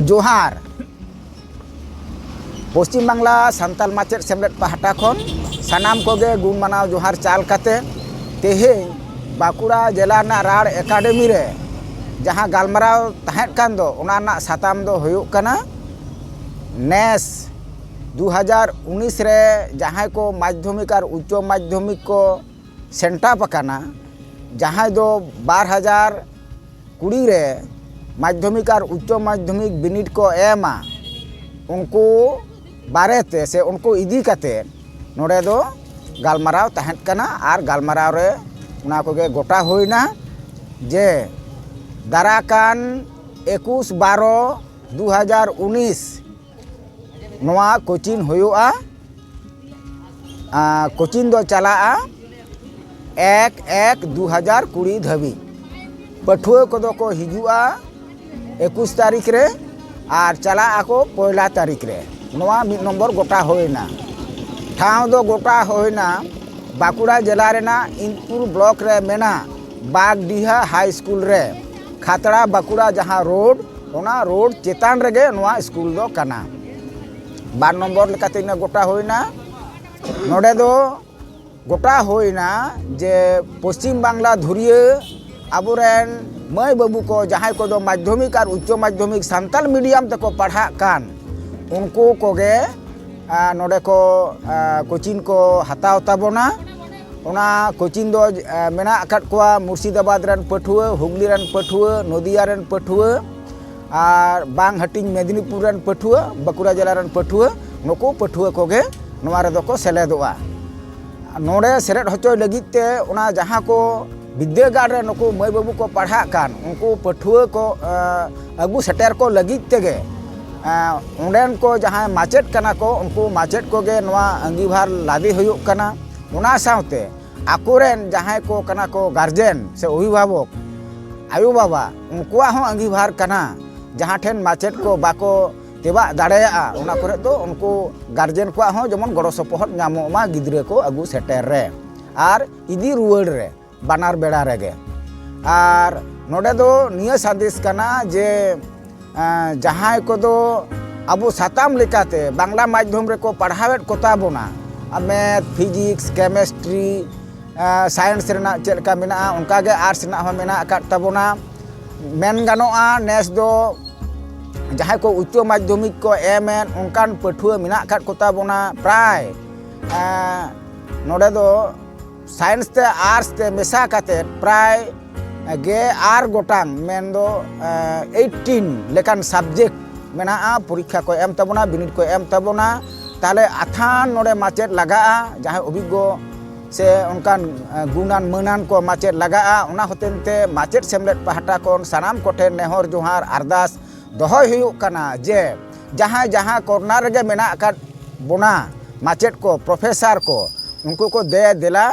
ᱡᱚᱦᱟᱨ ᱯᱚᱥᱪᱤᱢ ᱵᱟᱝᱞᱟ ᱥᱟᱱᱛᱟᱞ ᱢᱟᱪᱮᱫ ᱥᱮᱢᱞᱮᱫ ᱯᱟᱦᱴᱟ ᱠᱷᱚᱱ ᱥᱟᱱᱟᱢ ᱠᱚᱜᱮ ᱜᱩᱱ ᱢᱟᱱᱟᱣ ᱡᱚᱦᱟᱨ ᱪᱟᱞ ᱠᱟᱛᱮ ᱛᱮᱦᱮᱧ ᱵᱟᱸᱠᱩᱲᱟ ᱡᱮᱞᱟ ᱨᱮᱱᱟᱜ ᱨᱟᱲ ᱮᱠᱟᱰᱮᱢᱤ ᱨᱮ ᱡᱟᱦᱟᱸ ᱜᱟᱞᱢᱟᱨᱟᱣ ᱛᱟᱦᱮᱸᱫ ᱠᱟᱱ ᱫᱚ ᱚᱱᱟ ᱨᱮᱱᱟᱜ ᱥᱟᱛᱟᱢ ᱫᱚ ᱦᱩᱭᱩᱜ ᱠᱟᱱᱟ ᱱᱮᱥ ᱫᱩ ᱦᱟᱡᱟᱨ ᱩᱱᱤᱥ ᱨᱮ ᱡᱟᱦᱟᱸᱭ ᱠᱚ ᱢᱟᱫᱽᱫᱷᱚᱢᱤᱠ ᱟᱨ ᱩᱪᱪᱚ ᱢᱟᱫᱽᱫᱷᱚᱢᱤᱠ ᱠᱚ ᱥᱮᱱᱴᱟᱯ ᱟᱠᱟᱱᱟ ᱡᱟᱦᱟᱸᱭ ᱫᱚ ᱵᱟᱨ ᱦᱟᱡᱟᱨ ᱠᱩᱲᱤ ᱨᱮ ᱢᱟᱫᱽᱫᱷᱚᱢᱤᱠ ᱟᱨ ᱩᱪᱪᱚ ᱢᱟᱫᱽᱫᱷᱚᱢᱤᱠ ᱵᱤᱱᱤᱰ ᱠᱚ ᱮᱢᱟ ᱩᱱᱠᱩ ᱵᱟᱨᱮ ᱛᱮ ᱥᱮ ᱩᱱᱠᱩ ᱤᱫᱤ ᱠᱟᱛᱮ ᱱᱚᱰᱮ ᱫᱚ ᱜᱟᱞᱢᱟᱨᱟᱣ ᱛᱟᱦᱮᱸ ᱠᱟᱱᱟ ᱟᱨ ᱜᱟᱞᱢᱟᱨᱟᱣ ᱨᱮ ᱚᱱᱟ ᱠᱚᱜᱮ ᱜᱚᱴᱟ ᱦᱩᱭᱱᱟ ᱡᱮ ᱫᱟᱨᱟᱠᱟᱱ ᱮᱠᱩᱥ ᱵᱟᱨᱚ ᱫᱩ ᱦᱟᱡᱟᱨ ᱩᱱᱤᱥ ᱱᱚᱣᱟ ᱠᱳᱪᱤᱝ ᱦᱩᱭᱩᱜᱼᱟ ᱠᱳᱪᱤᱝ ᱫᱚ ᱪᱟᱞᱟᱜᱼᱟ ᱮᱠ ᱮᱠ ᱫᱩ ᱦᱟᱡᱟᱨ ᱠᱩᱲᱤ ᱫᱷᱟᱹᱵᱤᱡ ᱯᱟᱹᱴᱷᱩᱣᱟᱹ ᱠᱚᱫᱚ ᱠᱚ ᱦᱤᱡᱩᱜᱼᱟ ᱮᱠᱩᱥ ᱛᱟᱹᱨᱤᱠᱷ ᱨᱮ ᱟᱨ ᱪᱟᱞᱟᱜ ᱟᱠᱚ ᱯᱚᱭᱞᱟ ᱛᱟᱹᱨᱤᱠᱷ ᱨᱮ ᱱᱚᱣᱟ ᱢᱤᱫ ᱱᱚᱢᱵᱚᱨ ᱜᱚᱴᱟ ᱦᱩᱭᱱᱟ ᱴᱷᱟᱶ ᱫᱚ ᱜᱚᱴᱟ ᱦᱩᱭᱱᱟ ᱵᱟᱸᱠᱩᱲᱟ ᱡᱮᱞᱟ ᱨᱮᱱᱟᱜ ᱤᱱᱫᱽᱯᱩᱨ ᱵᱞᱚᱠ ᱨᱮ ᱢᱮᱱᱟᱜ ᱵᱟᱜᱽᱰᱤᱦᱟ ᱦᱟᱭ ᱥᱠᱩᱞ ᱨᱮ ᱠᱷᱟᱛᱲᱟ ᱵᱟᱸᱠᱩᱲᱟ ᱡᱟᱦᱟᱸ ᱨᱳᱰ ᱚᱱᱟ ᱨᱳᱰ ᱪᱮᱛᱟᱱ ᱨᱮᱜᱮ ᱱᱚᱣᱟ ᱥᱠᱩᱞ ᱫᱚ ᱠᱟᱱᱟ ᱵᱟᱨ ᱱᱚᱢᱵᱚᱨ ᱞᱮᱠᱟᱛᱮ ᱤᱱᱟᱹ ᱜᱚᱴᱟ ᱦᱩᱭᱱᱟ ᱱᱚᱰᱮ ᱫᱚ ᱜᱚᱴᱟ ᱦᱩᱭᱱᱟ ᱡᱮ ᱯᱚᱥᱪᱤᱢ ᱵᱟᱝᱞᱟ ᱫᱷᱩᱨᱤᱭᱟᱹ ᱟᱵᱚᱨᱮᱱ ᱢᱟᱹᱭ ᱵᱟᱹᱵᱩ ᱠᱚ ᱡᱟᱦᱟᱸᱭ ᱠᱚᱫᱚ ᱢᱟᱫᱽᱫᱷᱚᱢᱤᱠ ᱟᱨ ᱩᱪᱪᱚ ᱢᱟᱫᱽᱫᱷᱚᱢᱤᱠ ᱥᱟᱱᱛᱟᱲ ᱢᱤᱰᱤᱭᱟᱢ ᱛᱮᱠᱚ ᱯᱟᱲᱦᱟᱜ ᱠᱟᱱ ᱩᱱᱠᱩ ᱠᱚᱜᱮ ᱱᱚᱰᱮ ᱠᱚ ᱠᱳᱪᱤᱝ ᱠᱚ ᱦᱟᱛᱟᱣ ᱛᱟᱵᱚᱱᱟ ᱚᱱᱟ ᱠᱳᱪᱤᱝ ᱫᱚ ᱢᱮᱱᱟᱜ ᱟᱠᱟᱫ ᱠᱚᱣᱟ ᱢᱩᱨᱥᱤᱫᱟᱵᱟᱫᱽ ᱨᱮᱱ ᱯᱟᱹᱴᱷᱩᱣᱟᱹ ᱦᱩᱜᱽᱞᱤ ᱨᱮᱱ ᱯᱟᱹᱴᱷᱩᱣᱟᱹ ᱱᱚᱫᱤᱭᱟ ᱨᱮᱱ ᱯᱟᱹᱴᱷᱩᱣᱟᱹ ᱟᱨ ᱵᱟᱝ ᱦᱟᱹᱴᱤᱧ ᱢᱮᱫᱤᱱᱤᱯᱩᱨ ᱨᱮᱱ ᱯᱟᱹᱴᱷᱩᱣᱟᱹ ᱵᱟᱸᱠᱩᱲᱟ ᱡᱮᱞᱟ ᱨᱮᱱ ᱯᱟᱹᱴᱷᱩᱣᱟᱹ ᱱᱩᱠᱩ ᱯᱟᱹᱴᱷᱩᱣᱟᱹ ᱠᱚᱜᱮ ᱱᱚᱣᱟ ᱨᱮᱫᱚ ᱠᱚ ᱥᱮᱞᱮᱫᱚᱜᱼᱟ ᱱᱚᱰᱮ ᱥᱮᱞᱮᱫ ᱦᱚᱪᱚᱭ ᱞᱟᱹᱜᱤᱫ ᱛᱮ ᱚᱱᱟ ᱡᱟᱦᱟᱸ ᱠᱚ ᱵᱤᱫᱽᱫᱟᱹᱜᱟᱲ ᱨᱮ ᱱᱩᱠᱩ ᱢᱟᱹᱭ ᱵᱟᱹᱵᱩ ᱠᱚ ᱯᱟᱲᱦᱟᱜ ᱠᱟᱱ ᱩᱱᱠᱩ ᱯᱟᱹᱴᱷᱩᱣᱟᱹ ᱠᱚ ᱟᱹᱜᱩ ᱥᱮᱴᱮᱨ ᱠᱚ ᱞᱟᱹᱜᱤᱫ ᱛᱮᱜᱮ ᱚᱸᱰᱮᱱ ᱠᱚ ᱡᱟᱦᱟᱸᱭ ᱢᱟᱪᱮᱫ ᱠᱟᱱᱟ ᱠᱚ ᱩᱱᱠᱩ ᱢᱟᱪᱮᱫ ᱠᱚᱜᱮ ᱱᱚᱣᱟ ᱟᱺᱜᱤᱵᱷᱟᱨ ᱞᱟᱫᱮ ᱦᱩᱭᱩᱜ ᱠᱟᱱᱟ ᱚᱱᱟ ᱥᱟᱶᱛᱮ ᱟᱠᱚᱨᱮᱱ ᱡᱟᱦᱟᱸᱭ ᱠᱚ ᱠᱟᱱᱟ ᱠᱚ ᱜᱟᱨᱡᱮᱱ ᱥᱮ ᱚᱵᱷᱤᱵᱷᱟᱵᱚᱠ ᱟᱭᱳ ᱵᱟᱵᱟ ᱩᱱᱠᱩᱣᱟᱜ ᱦᱚᱸ ᱟᱺᱜᱤᱵᱷᱟᱨ ᱠᱟᱱᱟ ᱡᱟᱦᱟᱸ ᱴᱷᱮᱱ ᱢᱟᱪᱮᱫ ᱠᱚ ᱵᱟᱠᱚ ᱛᱮᱵᱟᱜ ᱫᱟᱲᱮᱭᱟᱜᱼᱟ ᱚᱱᱟ ᱠᱚᱨᱮ ᱫᱚ ᱩᱱᱠᱩ ᱜᱟᱨᱡᱮᱱ ᱠᱚᱣᱟᱜ ᱦᱚᱸ ᱡᱮᱢᱚᱱ ᱜᱚᱲᱚ ᱥᱚᱯᱚᱦᱚᱫ ᱧᱟᱢᱚᱜ ᱢᱟ ᱜᱤᱫᱽᱨᱟᱹ ᱠᱚ ᱟᱹᱜᱩ ᱥᱮᱴᱮᱨ ᱨᱮ ᱟᱨ ᱤᱫᱤ ᱨᱩᱣᱟᱹᱲ ᱨᱮ ᱵᱟᱱᱟᱨ ᱵᱮᱲᱟ ᱨᱮᱜᱮ ᱟᱨ ᱱᱚᱰᱮ ᱫᱚ ᱱᱤᱭᱟᱹ ᱥᱟᱸᱫᱮᱥ ᱠᱟᱱᱟ ᱡᱮ ᱡᱟᱦᱟᱸᱭ ᱠᱚᱫᱚ ᱟᱵᱚ ᱥᱟᱛᱟᱢ ᱞᱮᱠᱟᱛᱮ ᱵᱟᱝᱞᱟ ᱢᱟᱫᱽᱫᱷᱚᱢ ᱨᱮᱠᱚ ᱯᱟᱲᱦᱟᱣᱮᱫ ᱠᱚᱛᱟ ᱵᱚᱱᱟ ᱢᱮᱛᱷ ᱯᱷᱤᱡᱤᱠᱥ ᱠᱮᱢᱮᱥᱴᱨᱤ ᱥᱟᱭᱮᱱᱥ ᱨᱮᱱᱟᱜ ᱪᱮᱫ ᱞᱮᱠᱟ ᱢᱮᱱᱟᱜᱼᱟ ᱚᱱᱠᱟᱜᱮ ᱟᱨᱴᱥ ᱨᱮᱱᱟᱜ ᱦᱚᱸ ᱢᱮᱱᱟᱜ ᱟᱠᱟᱫ ᱛᱟᱵᱚᱱᱟ ᱢᱮᱱ ᱜᱟᱱᱚᱜᱼᱟ ᱱᱮᱥ ᱫᱚ ᱡᱟᱦᱟᱸᱭ ᱠᱚ ᱩᱪᱪᱚ ᱢᱟᱫᱽᱫᱷᱚᱢᱤᱠ ᱠᱚ ᱮᱢᱮᱫ ᱚᱱᱠᱟᱱ ᱯᱟᱹᱴᱷᱩᱣᱟᱹ ᱢᱮᱱᱟᱜ ᱟᱠᱟᱫ ᱠᱚᱛᱟ ᱵᱚᱱᱟ ᱯᱨᱟᱭ ᱱᱚᱰᱮ ᱫᱚ ᱥᱟᱭᱮᱱᱥ ᱛᱮ ᱟᱨᱴᱥ ᱛᱮ ᱢᱮᱥᱟ ᱠᱟᱛᱮᱫ ᱯᱨᱟᱭ ᱜᱮ ᱟᱨ ᱜᱚᱴᱟᱝ ᱢᱮᱱᱫᱚ ᱮᱭᱤᱴᱴᱤᱱ ᱞᱮᱠᱟᱱ ᱥᱟᱵᱡᱮᱠᱴ ᱢᱮᱱᱟᱜᱼᱟ ᱯᱚᱨᱤᱠᱠᱷᱟ ᱠᱚ ᱮᱢ ᱛᱟᱵᱚᱱᱟ ᱵᱤᱱᱤᱰ ᱠᱚ ᱮᱢ ᱛᱟᱵᱚᱱᱟ ᱛᱟᱦᱚᱞᱮ ᱟᱛᱷᱟᱱ ᱱᱚᱰᱮ ᱢᱟᱪᱮᱫ ᱞᱟᱜᱟᱜᱼᱟ ᱡᱟᱦᱟᱸᱭ ᱚᱵᱷᱤᱜᱽᱜᱚ ᱥᱮ ᱚᱱᱠᱟᱱ ᱜᱩᱱᱟᱱ ᱢᱟᱹᱱᱟᱱ ᱠᱚ ᱢᱟᱪᱮᱫ ᱞᱟᱜᱟᱜᱼᱟ ᱚᱱᱟ ᱦᱚᱛᱮᱱ ᱛᱮ ᱢᱟᱪᱮᱫ ᱥᱮᱢᱞᱮᱫ ᱯᱟᱦᱴᱟ ᱠᱷᱚᱱ ᱥᱟᱱᱟᱢ ᱠᱚᱴᱷᱮᱱ ᱱᱮᱦᱚᱨ ᱡᱚᱦᱟᱨ ᱟᱨᱫᱟᱥ ᱫᱚᱦᱚᱭ ᱦᱩᱭᱩᱜ ᱠᱟᱱᱟ ᱡᱮ ᱡᱟᱦᱟᱸᱭ ᱡᱟᱦᱟᱸ ᱠᱚᱨᱱᱟᱨ ᱨᱮᱜᱮ ᱢᱮᱱᱟᱜ ᱟᱠᱟᱫ ᱵᱚᱱᱟ ᱢᱟᱪᱮᱫ ᱠᱚ ᱯᱨᱚᱯᱷᱮᱥᱟᱨ ᱠᱚ ᱩᱱᱠᱩ ᱠᱚ ᱫᱮ ᱫᱮᱞᱟ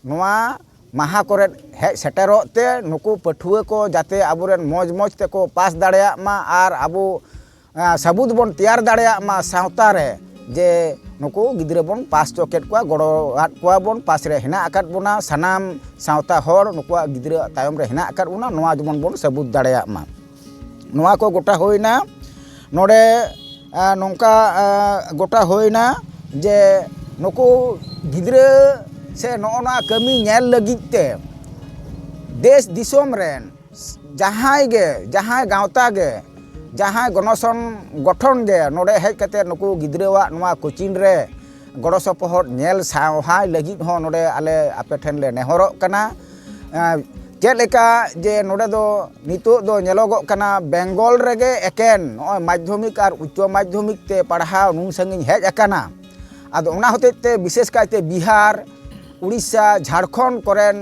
ᱱᱚᱣᱟ ᱢᱟᱦᱟ ᱠᱚᱨᱮ ᱦᱮᱡ ᱥᱮᱴᱮᱨᱚᱜ ᱛᱮ ᱱᱩᱠᱩ ᱯᱟᱹᱴᱷᱩᱣᱟᱹ ᱠᱚ ᱡᱟᱛᱮ ᱟᱵᱚᱨᱮᱱ ᱢᱚᱡᱽ ᱢᱚᱡᱽ ᱛᱮᱠᱚ ᱯᱟᱥ ᱫᱟᱲᱮᱭᱟᱜ ᱢᱟ ᱟᱨ ᱟᱵᱚ ᱥᱟᱵᱩᱛ ᱵᱚᱱ ᱛᱮᱭᱟᱨ ᱫᱟᱲᱮᱭᱟᱜ ᱢᱟ ᱥᱟᱶᱛᱟ ᱨᱮ ᱡᱮ ᱱᱩᱠᱩ ᱜᱤᱫᱽᱨᱟᱹ ᱵᱚᱱ ᱯᱟᱥ ᱦᱚᱪᱚ ᱠᱮᱫ ᱠᱚᱣᱟ ᱜᱚᱲᱚ ᱟᱫ ᱠᱚᱣᱟ ᱵᱚᱱ ᱯᱟᱥ ᱨᱮ ᱦᱮᱱᱟᱜ ᱟᱠᱟᱫ ᱵᱚᱱᱟ ᱥᱟᱱᱟᱢ ᱥᱟᱶᱛᱟ ᱦᱚᱲ ᱱᱩᱠᱩᱣᱟᱜ ᱜᱤᱫᱽᱨᱟᱹ ᱛᱟᱭᱚᱢ ᱨᱮ ᱦᱮᱱᱟᱜ ᱟᱠᱟᱫ ᱵᱚᱱᱟ ᱱᱚᱣᱟ ᱡᱮᱢᱚᱱ ᱵᱚᱱ ᱥᱟᱵᱩᱛ ᱫᱟᱲᱮᱭᱟᱜ ᱢᱟ ᱱᱚᱣᱟ ᱠᱚ ᱜᱚᱴᱟ ᱦᱩᱭᱱᱟ ᱱᱚᱰᱮ ᱱᱚᱝᱠᱟ ᱜᱚᱴᱟ ᱦᱩᱭᱱᱟ ᱡᱮ ᱱᱩᱠᱩ ᱜᱤᱫᱽᱨᱟᱹ ᱥᱮ ᱱᱚᱜᱼᱚ ᱱᱚᱣᱟ ᱠᱟᱹᱢᱤ ᱧᱮᱞ ᱞᱟᱹᱜᱤᱫ ᱛᱮ ᱫᱮᱥ ᱫᱤᱥᱚᱢ ᱨᱮᱱ ᱡᱟᱦᱟᱸᱭ ᱜᱮ ᱡᱟᱦᱟᱸᱭ ᱜᱟᱶᱛᱟ ᱜᱮ ᱡᱟᱦᱟᱸᱭ ᱜᱚᱱᱚᱥᱚᱝ ᱜᱚᱴᱷᱚᱱ ᱜᱮ ᱱᱚᱰᱮ ᱦᱮᱡ ᱠᱟᱛᱮ ᱱᱩᱠᱩ ᱜᱤᱫᱽᱨᱟᱹᱣᱟᱜ ᱱᱚᱣᱟ ᱠᱳᱪᱤᱝ ᱨᱮ ᱜᱚᱲᱚ ᱥᱚᱯᱚᱦᱚᱫ ᱧᱮᱞ ᱥᱟᱶᱦᱟᱭ ᱞᱟᱹᱜᱤᱫ ᱦᱚᱸ ᱱᱚᱰᱮ ᱟᱞᱮ ᱟᱯᱮ ᱴᱷᱮᱱ ᱞᱮ ᱱᱮᱦᱚᱨᱚᱜ ᱠᱟᱱᱟ ᱪᱮᱫ ᱞᱮᱠᱟ ᱡᱮ ᱱᱚᱰᱮ ᱫᱚ ᱱᱤᱛᱚᱜ ᱫᱚ ᱧᱮᱞᱚᱜᱚᱜ ᱠᱟᱱᱟ ᱵᱮᱝᱜᱚᱞ ᱨᱮᱜᱮ ᱮᱠᱮᱱ ᱱᱚᱜᱼᱚᱭ ᱢᱟᱫᱽᱫᱷᱚᱢᱤᱠ ᱟᱨ ᱩᱪᱪᱚ ᱢᱟᱫᱽᱫᱷᱚᱢᱤᱠ ᱛᱮ ᱯᱟᱲᱦᱟᱣ ᱱᱩᱱ ᱥᱟᱺᱜᱤᱧ ᱦᱮᱡ ᱟᱠᱟᱱᱟ ᱟᱫᱚ ᱚᱱᱟ ᱦᱚᱛᱮᱡ ᱛᱮ ᱵᱤᱥᱮᱥ ᱠᱟᱭᱛᱮ ᱵᱤᱦᱟᱨ ᱩᱲᱤᱥᱥᱟ ᱡᱷᱟᱲᱠᱷᱚᱸᱰ ᱠᱚᱨᱮᱱ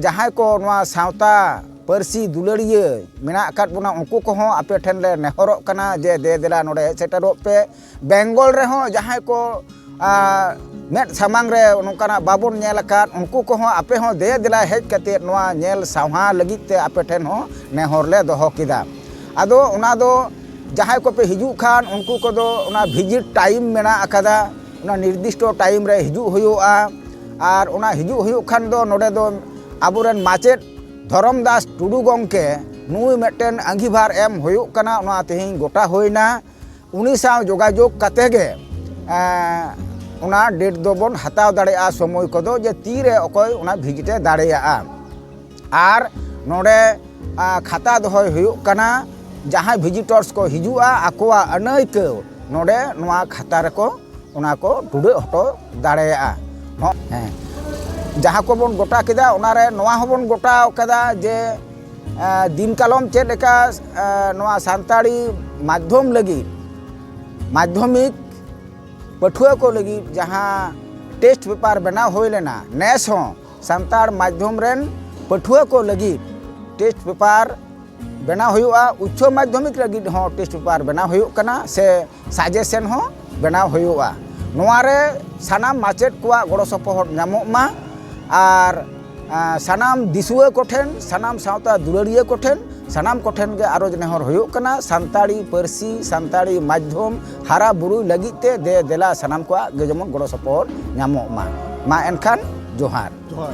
ᱡᱟᱦᱟᱸᱭ ᱠᱚ ᱱᱚᱣᱟ ᱥᱟᱶᱛᱟ ᱯᱟᱹᱨᱥᱤ ᱫᱩᱞᱟᱹᱲᱤᱭᱟᱹ ᱢᱮᱱᱟᱜ ᱟᱠᱟᱫ ᱵᱚᱱᱟ ᱩᱱᱠᱩ ᱠᱚᱦᱚᱸ ᱟᱯᱮ ᱴᱷᱮᱱ ᱞᱮ ᱱᱮᱦᱚᱨᱚᱜ ᱠᱟᱱᱟ ᱡᱮ ᱫᱮ ᱫᱮᱞᱟ ᱱᱚᱰᱮ ᱦᱮᱡ ᱥᱮᱴᱮᱨᱚᱜ ᱯᱮ ᱵᱮᱝᱜᱚᱞ ᱨᱮᱦᱚᱸ ᱡᱟᱦᱟᱸᱭ ᱠᱚ ᱢᱮᱫ ᱥᱟᱢᱟᱝ ᱨᱮ ᱱᱚᱝᱠᱟᱱᱟᱜ ᱵᱟᱵᱚᱱ ᱧᱮᱞ ᱟᱠᱟᱫ ᱩᱱᱠᱩ ᱠᱚᱦᱚᱸ ᱟᱯᱮ ᱦᱚᱸ ᱫᱮ ᱫᱮᱞᱟ ᱦᱮᱡ ᱠᱟᱛᱮᱫ ᱱᱚᱣᱟ ᱧᱮᱞ ᱥᱟᱣᱦᱟ ᱞᱟᱹᱜᱤᱫ ᱛᱮ ᱟᱯᱮ ᱴᱷᱮᱱ ᱦᱚᱸ ᱱᱮᱦᱚᱨ ᱞᱮ ᱫᱚᱦᱚ ᱠᱮᱫᱟ ᱟᱫᱚ ᱚᱱᱟ ᱫᱚ ᱡᱟᱦᱟᱸᱭ ᱠᱚᱯᱮ ᱦᱤᱡᱩᱜ ᱠᱷᱟᱱ ᱩᱱᱠᱩ ᱠᱚᱫᱚ ᱚᱱᱟ ᱵᱷᱤᱡᱤᱴ ᱴᱟᱭᱤᱢ ᱢᱮᱱᱟᱜ ᱟᱠᱟᱫᱟ ᱚᱱᱟ ᱱᱤᱨᱫᱤᱥᱴᱚ ᱴᱟᱭᱤᱢ ᱨᱮ ᱦᱤᱡᱩᱜ ᱦᱩᱭᱩᱜᱼᱟ ᱟᱨ ᱚᱱᱟ ᱦᱤᱡᱩᱜ ᱦᱩᱭᱩᱜ ᱠᱷᱟᱱ ᱫᱚ ᱱᱚᱰᱮ ᱫᱚ ᱟᱵᱚᱨᱮᱱ ᱢᱟᱪᱮᱫ ᱫᱷᱚᱨᱚᱢ ᱫᱟᱥ ᱴᱩᱰᱩ ᱜᱚᱢᱠᱮ ᱱᱩᱭ ᱢᱤᱫᱴᱮᱱ ᱟᱺᱜᱤᱵᱷᱟᱨ ᱮᱢ ᱦᱩᱭᱩᱜ ᱠᱟᱱᱟ ᱚᱱᱟ ᱛᱮᱦᱮᱧ ᱜᱚᱴᱟ ᱦᱩᱭᱱᱟ ᱩᱱᱤ ᱥᱟᱶ ᱡᱳᱜᱟᱡᱳᱜᱽ ᱠᱟᱛᱮ ᱜᱮ ᱚᱱᱟ ᱰᱮᱴ ᱫᱚᱵᱚᱱ ᱦᱟᱛᱟᱣ ᱫᱟᱲᱮᱭᱟᱜᱼᱟ ᱥᱚᱢᱚᱭ ᱠᱚᱫᱚ ᱡᱮ ᱛᱤᱨᱮ ᱚᱠᱚᱭ ᱚᱱᱟ ᱵᱷᱤᱡᱤᱴᱮ ᱫᱟᱲᱮᱭᱟᱜᱼᱟ ᱟᱨ ᱱᱚᱰᱮ ᱠᱷᱟᱛᱟ ᱫᱚᱦᱚᱭ ᱦᱩᱭᱩᱜ ᱠᱟᱱᱟ ᱡᱟᱦᱟᱸᱭ ᱵᱷᱤᱡᱤᱴᱚᱨᱥ ᱠᱚ ᱦᱤᱡᱩᱜᱼᱟ ᱟᱠᱚᱣᱟᱜ ᱟᱹᱱᱟᱹᱭᱠᱟᱹᱣ ᱱᱚᱰᱮ ᱱᱚᱣᱟ ᱠᱷᱟᱛᱟ ᱨᱮᱠᱚ ᱚᱱᱟ ᱠᱚ ᱴᱩᱰᱟᱹᱜ ᱦᱚᱴᱚ ᱫᱟᱲᱮᱭᱟᱜᱼᱟ ᱦᱮᱸ ᱡᱟᱦᱟᱸ ᱠᱚᱵᱚᱱ ᱜᱚᱴᱟ ᱠᱮᱫᱟ ᱚᱱᱟᱨᱮ ᱱᱚᱣᱟ ᱦᱚᱸᱵᱚᱱ ᱜᱚᱴᱟ ᱠᱟᱫᱟ ᱡᱮ ᱫᱤᱱ ᱠᱟᱞᱚᱢ ᱪᱮᱫ ᱞᱮᱠᱟ ᱱᱚᱣᱟ ᱥᱟᱱᱛᱟᱲᱤ ᱢᱟᱫᱽᱫᱷᱚᱢ ᱞᱟᱹᱜᱤᱫ ᱢᱟᱫᱽᱫᱷᱚᱢᱤᱠ ᱯᱟᱹᱴᱷᱩᱣᱟᱹ ᱠᱚ ᱞᱟᱹᱜᱤᱫ ᱡᱟᱦᱟᱸ ᱴᱮᱥᱴ ᱯᱮᱯᱟᱨ ᱵᱮᱱᱟᱣ ᱦᱩᱭ ᱞᱮᱱᱟ ᱱᱮᱥ ᱦᱚᱸ ᱥᱟᱱᱛᱟᱲ ᱢᱟᱫᱽᱫᱷᱚᱢ ᱨᱮᱱ ᱯᱟᱹᱴᱷᱩᱣᱟᱹ ᱠᱚ ᱞᱟᱹᱜᱤᱫ ᱴᱮᱥᱴ ᱯᱮᱯᱟᱨ ᱵᱮᱱᱟᱣ ᱦᱩᱭᱩᱜᱼᱟ ᱩᱪᱪᱚ ᱢᱟᱫᱽᱫᱷᱚᱢᱤᱠ ᱞᱟᱹᱜᱤᱫ ᱦᱚᱸ ᱴᱮᱥᱴ ᱯᱮᱯᱟᱨ ᱵᱮᱱᱟᱣ ᱦᱩᱭᱩᱜ ᱠᱟᱱᱟ ᱥᱮ ᱥᱟᱡᱮᱥᱮᱱ ᱦᱚᱸ ᱵᱮᱱᱟᱣ ᱦᱩᱭᱩᱜᱼᱟ ᱱᱚᱣᱟ ᱨᱮ ᱥᱟᱱᱟᱢ ᱢᱟᱪᱮᱫ ᱠᱚᱣᱟᱜ ᱜᱚᱲᱚ ᱥᱚᱯᱚᱦᱚᱫ ᱧᱟᱢᱚᱜ ᱢᱟ ᱟᱨ ᱥᱟᱱᱟᱢ ᱫᱤᱥᱩᱣᱟᱹ ᱠᱚᱴᱷᱮᱱ ᱥᱟᱱᱟᱢ ᱥᱟᱶᱛᱟ ᱫᱩᱞᱟᱹᱲᱤᱭᱟᱹ ᱠᱚᱴᱷᱮᱱ ᱥᱟᱱᱟᱢ ᱠᱚᱴᱷᱮᱱ ᱜᱮ ᱟᱨᱚᱡᱽ ᱱᱮᱦᱚᱨ ᱦᱩᱭᱩᱜ ᱠᱟᱱᱟ ᱥᱟᱱᱛᱟᱲᱤ ᱯᱟᱹᱨᱥᱤ ᱥᱟᱱᱛᱟᱲᱤ ᱢᱟᱫᱽᱫᱷᱚᱢ ᱦᱟᱨᱟ ᱵᱩᱨᱩᱭ ᱞᱟᱹᱜᱤᱫ ᱛᱮ ᱫᱮ ᱫᱮᱞᱟ ᱥᱟᱱᱟᱢ ᱠᱚᱣᱟᱜ ᱜᱮ ᱡᱮᱢᱚᱱ ᱜᱚᱲᱚ ᱥᱚᱯᱚᱦᱚᱫ ᱧᱟᱢᱚᱜ ᱢᱟ ᱢᱟ ᱮᱱᱠᱷᱟᱱ ᱡᱚᱦᱟᱨ ᱡᱚᱦᱟᱨ